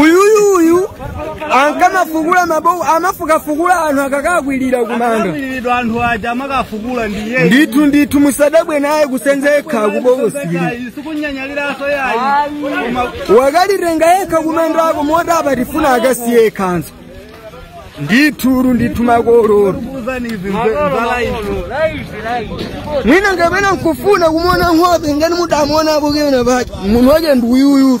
uyuyu uyu ankamafukula mabowo amafukafukula anthu akakakwirira kumanda Akakwiridwa anthu aja amakafukula ndi iyeyu. ndithu ndithu musadabwe naye kusenza yekha kubokosiri Sikunyanyaliranso yayi. Koma wakalitenga yekha kumandako moti apa tifuna akasiye yekhanso ndithudi ndithu makololo kuuzani izi nzala izi. mwina kapena nkufuna kumona nkhope ngati mudamuonapo pena pake munthu wake ndi uyuyu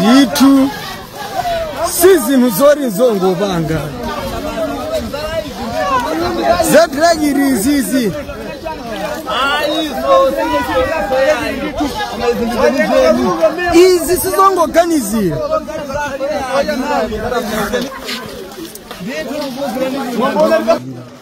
ndithu si zinthu zoti nzongopanga za trickery izizi izi sizongoganizira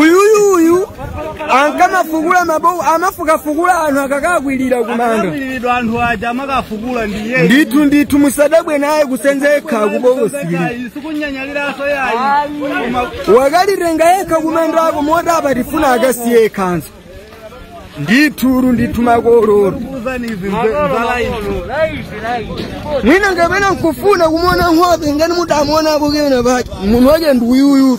uyuyu uyu ankamafukula mabowo amafukafukula anthu akakakwirira kumanda Akakwiridwa anthu aja amakafukula ndi iyeyu. ndithu ndithu musadabwe naye kusenza yekha kubokosiri Sikunyanyaliranso yayi. Koma wakalitenga yekha kumandako moti apa tifuna akasiye yekhanso ndithudi ndithu makololo kuzani izi mzala izi. mwina kapena nkufuna kumona nkhope ngati mudamuonapo pena pake munthu wake ndi uyuyu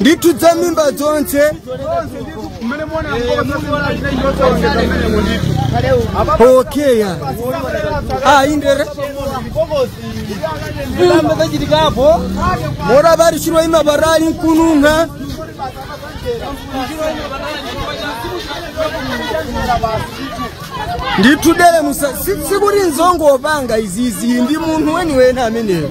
ndithu za m'mimba zonse okay ya ah indere zamba zachitikapo moti bari chiro ima barali nkununkha ndithu dele musa si- sikuti nzongopanga izizi ndi munthu weniweni ameneyo